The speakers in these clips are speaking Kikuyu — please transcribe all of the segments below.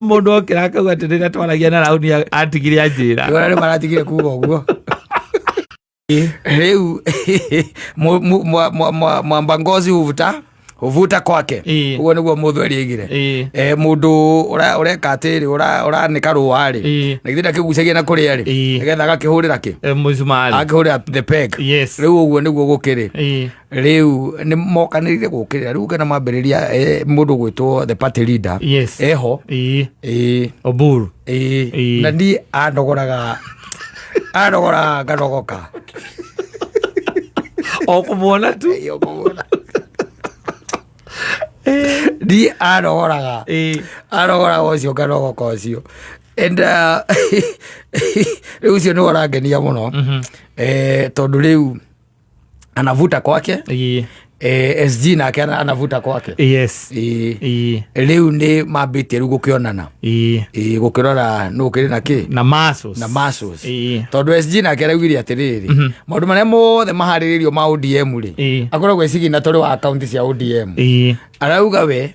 mundu okira akauga atä rä rä a twaragia na rauni atigire anjä ra Wala nĩ maratigire kuga ũguo rĩu mu- mu- mwa- mwa- mwa- mwamba ngozi huvuta huvuta kwake Ĩĩ. ũguo nĩguo mũthũ erĩgire Ĩĩ. Eh, mũndũ ũra- ũreka atĩrĩ ũra- ũranĩka rũwarĩ Ĩĩ. na githĩ ndakĩgucagia na kũrĩa rĩ Ĩĩ. nĩgetha agakĩhũrĩra kĩ må cumarä agakĩhũrĩra the peg Yes. rĩu ũguo nĩguo gũkĩrĩ Ĩĩ. riu ni mokanirire gukirira riu kana mambiriria eh, mundu gwitwo the party leader Yes. eho Ii. eh Oburu. eh Ĩĩ. na ni anogoraga anogoraga nganogoka O kumuona tu. Iyo kũgũra. ni anogoraga Ii. anogoraga ucio nganogoka ucio and uh, riu ucio ni urangenia muno eh tondu riu anavuta kwake Ii. eh, sg nake ana- anavuta kwake yes Eh, Ii. rĩu nĩ mambĩtie rĩu gũkĩonana Ii. Eh, gũkĩrora nũ kĩrĩ na kĩ na masos na masos Ii. tondå sg nake araugire atĩrĩrĩ maũndũ marĩa mothe maharĩrĩirio ma odm rĩ Ii. akoragwo ecigina tũrĩ wa akaunti cia odm Ii. arauga we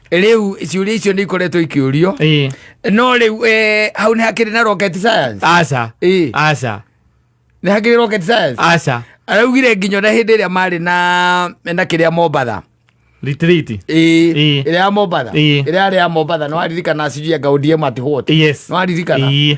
rĩu ciũria icio nĩ ikoretwo ikĩũrio Ĩĩ. no rĩu eh, hau nĩ hakĩrĩ na rocket science aca Ĩĩ. aca nĩ hakĩrĩ rocket science aca araugire nginya na hĩndĩ ĩrĩa marĩ na na kĩrĩa mombatha ritiriti Ĩĩ. Ĩĩ. ĩrĩa ya mombatha Ĩĩ. ĩrĩa yarĩ ya mombatha nĩ waririkana sijui anga odm at what yes nĩ waririkana Ĩĩ.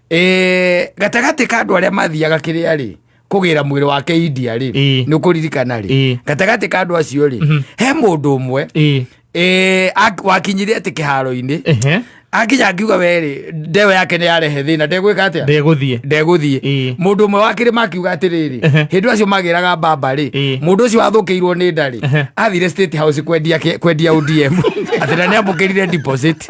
Eh, gatagatĩ ka andũ arĩa mathiaga kĩrĩa rĩ kũgĩra mwĩrĩ wake india rĩ Ĩĩ. nĩ kũririkana Ĩĩ. rĩ gatagatĩ ka andũ acio rĩ Mhm. he mũndũ ũmwe Ĩĩ. eh, ak- wakinyire atĩ kĩharo-inĩ Ehe. akinya akiuga werĩ ndewe yake nĩ yarehe thĩna ndegwĩka atĩa ndegũthiĩ ndegũthiĩ Ĩĩ. mũndũ ũmwe wa kĩrĩma akiuga atĩrĩrĩ Ehe. hĩndĩ acio magĩraga mbamba rĩ Ĩĩ. mũndũ ũcio wathũkĩirwo nĩ ndarĩ Ehe. athire state house kwendia ke- kwendia odm atĩ na nĩ amũkĩrire deposit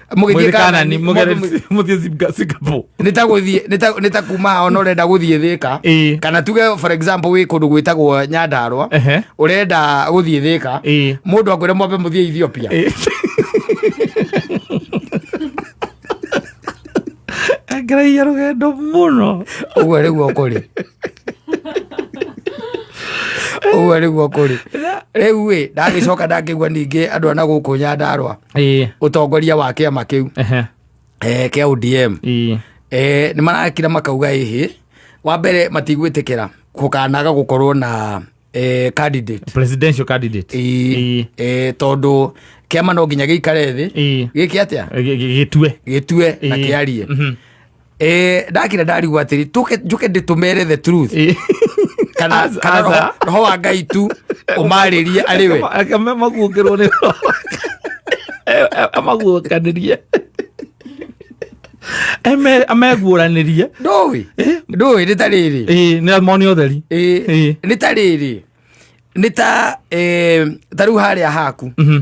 mũgĩthiĩ kanani mũthiĩ singapore nĩtagũthiĩ nĩta- nĩtakuma ona ũrenda gũthiĩ thĩka Ĩĩ. kana tuge for example wĩ kũndũ gwĩtagwo nyandarwa Ehe. ũrenda gũthiĩ thĩka Ĩĩ. mũndũ akwĩre mwambe mũthiĩ ethiopia ngeragia rũgendo mũno ũguo rĩguo kũrĩ ũguo rĩguo kũrĩ rĩu ĩ ndagĩcoka ndangĩgua ningĩ andũ ana gũkũ nyandarwa Ĩĩ, utongoria wa kiama kiu ehe, eh, kia ODM ĩĩ, eh, nä marakira makauga ĩhĩ wa mbere matigwĩtĩkĩra gũkanaga gũkorwo na eh, candidate presidential candidate Ĩĩ, Ĩĩ. eh, tondũ kĩama no nginya gĩikare thĩ Ĩĩ. gĩke atĩa Gĩ- gĩ- gĩtue gĩtue na Ĩĩ. kĩarie Mhm. Eh, ndakira ndarigwo atiri tuke njuke nditumere the truth Eh, kana Aza- kana aza. roho- roho wa ngai tu umaririe ari we akama- amaguũkĩrwo nĩ roho. Eh, eh, amaguũkanĩrie Eme- ameguũranĩrie ndũĩ Eh. ndũĩ nĩ ta rĩrĩ Eh, nĩ moni ũtheri Eh, Eh. nĩ ta rĩrĩ nĩ ta eh, ta rĩu harĩa haku Mhm.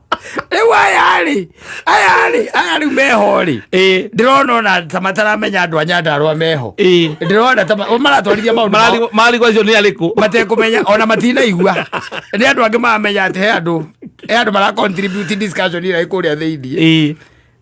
rĩu aya rĩ aya rĩ aya rĩu meho rĩ Ĩĩ. ndĩrona ona ta mataramenya andũ a nyandarwa meho Ĩĩ. ndĩrona ta ma- maratwarithia maũndũ mao Marari- marigwa icio nĩ arĩkũ matekũmenya ona matinaigua nĩ andũ angĩ maramenya atĩ he andũ he andũ mara contribute discussion ĩrĩa ĩkũrĩa thĩinĩ Ĩĩ.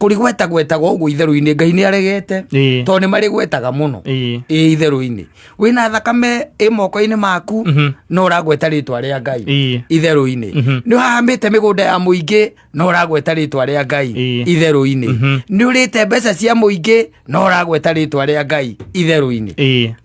kũrĩgweta gwetaga ũguo itherũ-inĩ ngai nĩ aregete Ĩĩ. tondũ nĩ marĩgwetaga mũno Ĩĩ. ĩ itherũ-inĩ wĩna thakame ĩ moko-inĩ maku Mhm. no ũragweta rĩtwa rĩa ngai Ĩĩ. itherũ-inĩ Mhm. nĩ ũhahamĩte mĩgũnda ya mũingĩ no ũragweta rĩtwa rĩa ngai Ĩĩ. itherũ-inĩ Mhm. nĩ ũrĩte mbeca cia mũingĩ no ũragweta rĩtwa rĩa ngai itherũ-inĩ Ĩĩ.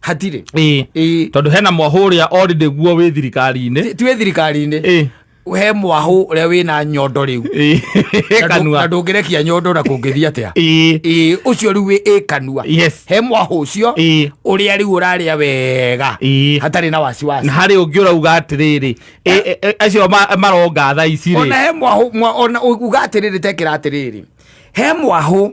hatirĩ ĩĩ Ĩĩ. tondå hena mwahå å rä a orindä guo wä thirikari-inä Ti- tiwĩ thirikari-inĩ Ĩĩ. he mwahũ ũrĩa wĩna nyondo rĩu Ĩĩ. Na ndũ- kanua na ndũngĩrekia nyondo na kũngĩthiĩ atĩa Ĩĩ. Ĩĩ, ũcio rĩu wĩ ĩ kanua Yes. he mwahũ ũcio Ĩĩ. ũrĩa rĩu ũrarĩa wega Ĩĩ. hatarĩ na wasiwasi na harä å ngä å rauga atä rä rä acio ma- maronga tha ici ona rä he mwahũ mwa- ona uga atĩrĩrĩ tekĩra atĩrĩrĩ he mwahũ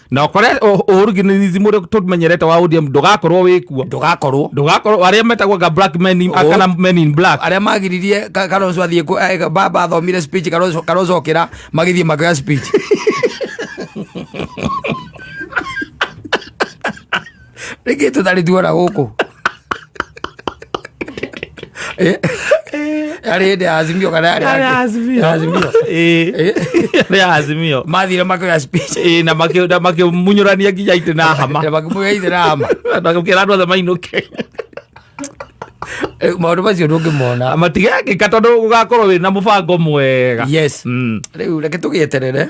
na kore uhuruginizi muri tumenyerete wa ODM ndugakorwo wi kuo ndugakorwo ndugakorwo aria metagwo ga black men in kana men in black aria magiririe karozo athie eh, baba athomire speech karozo karozo kira magithie makoya speech rĩngä tå tarä tuona gå kå arä hä ndä ya azimio kana Arĩ yarä Azimio. ya azimio Ĩĩ. Arĩ a azimio mathire makoya speech Ĩĩ, na makĩ- na makĩmunyũrania nginya itĩ na hama na makĩmwä ithe na hama nakĩra andũ othe mainũke maå macio ndå ngä mona matigekĩka tondũ gũgakorwo wĩ na mũbango mwega yes Mm. rä u reke tå gä eterere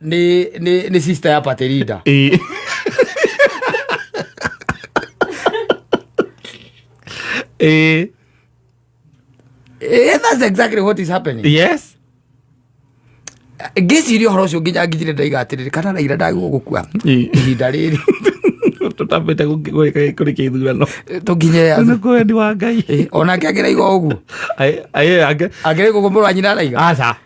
ni ni ni sister ya paterida Eh. Eh, Eh, that's exactly what is happening yes ngĩciria ũhoro ũcio nginya nginyire ndaigatirĩrĩ kana naira ndagwo gũkua Eh. ihinda rĩrĩ tũtambĩte kũrĩkia ithurano tũnginye nĩ kwendi wa ngai Eh, onake angĩraiga ũguo Aĩ- aĩ, ake- angĩraiga ũguo mũrũ wa nyina araiga aca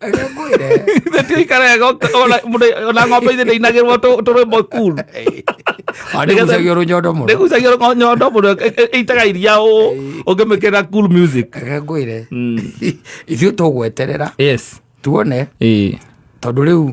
Arĩa ngwĩre. Ithe ti aikara ega ona ng'ombe ithe ndĩinagĩrwo tũrwĩmbo cool. Nĩgucagio rũnyondo mũno. Nĩgucagio rũnyondo mũno ĩitaga iria ũ ũngĩmĩkĩra cool music. Arĩa ngwĩre. Ithuĩ tũgweterera. Yes. Tuone. Tondũ rĩu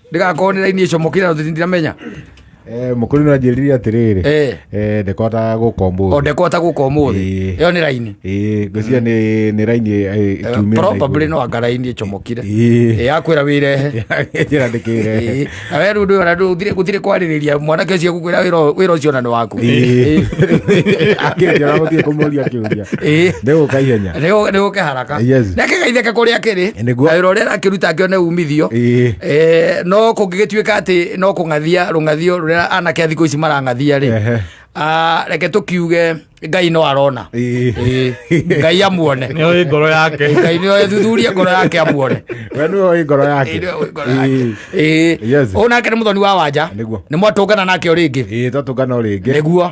ndigakorwo nä raini ä comokire na tå ndiramenya Eh, mũkũri no anjĩrire atĩrĩrĩ Eh. eh, ndekota gũka ũmũthĩ ondekota gå ka å må thä Ĩĩ. ä yo nä raini Ĩĩ, ngwĩciria nĩ nĩ raini eh, ikiumĩra na probably igũrũ. no anga raini ä comokire Ĩĩ. Ĩĩ, yakwä ra wä rehe Njĩra ndĩkĩre. Ĩĩ. na we rä u ndå gå tirä kwarä rä ria mwanake å cio gå kwä ra wä ra å cio na nä waku Ĩĩ. Akĩrĩkia na gũthiĩ kũmũria kĩũria Ĩĩ. nĩ gũka ihenya nä gå kä gaka Eh, yes. na kĩgaitheka kũrĩa kĩrĩ Eh, nĩguo. na wĩra ũrĩa arakĩruta ngĩone umithio Ĩĩ. Eh, no kũngĩgĩtuĩka atĩ no kũng'athia rũng'athio rũrĩa anake a thikũ ici marang'athia rĩ Ehe. Ah, reke tũkiuge ngai no arona Ĩĩ. Ĩĩ. ngai amuone nä å ngoro yake ngai nä ethuthurie ngoro yake amuone we nä oä ngoro yake Ĩĩ. å nake nä må thoni wa wanja Nĩguo. nä mwatångana nake å rä ngä ä twatå ngana å rä ngä nä guo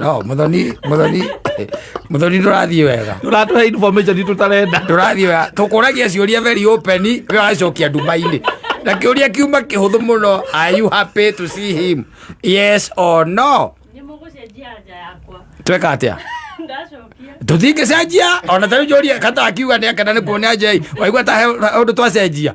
no muthoni muthoni muthoni ndurathii wega Ũratũhe information itũ tarenda. ndurathii wega tukuragia ciuria very open we wacokia ndumaini na kiuria kiuma kihuthu muno are you happy to see him yes or no nä må gå cenjia nja yakwa tweka atia ndacokia tũtingĩcenjia ona tarä njåria kata akiuga nä akena nä kuona njei waigua ta å ndå twacenjia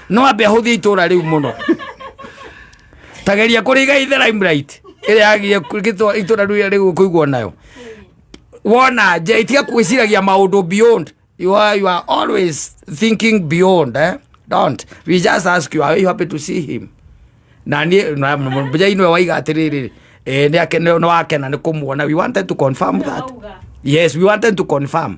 no ambe ahũthie itũra rĩu mũno tageria kũrĩga ithe limelight ĩrĩa yagiye gĩtũ- itũra rĩu rĩu kũiguo nayo wona nje itiga kwĩciragia maũndũ beyond you are, you are always thinking beyond eh? don't we just ask you are you happy to see him na niä mbeja inwe waiga atä rä rä nä wakena nä kå muona we wanted to confirm that yes we wanted to confirm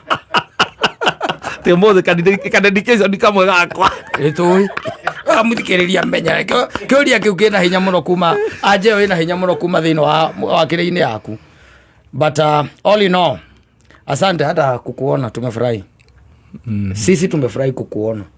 tä må thä kanendikä ico ndikamwe gakwa ĩtũĩ amuthikĩrĩria menya Kĩo- kĩũria kĩu kĩna hinya mũno kuma anja ĩyo ĩna hinya mũno kuma thĩinĩ wa wakĩrĩ-inĩ yaku but uh, all in all asante hata kukuona tumefurahi sisi tumefurahi kukuona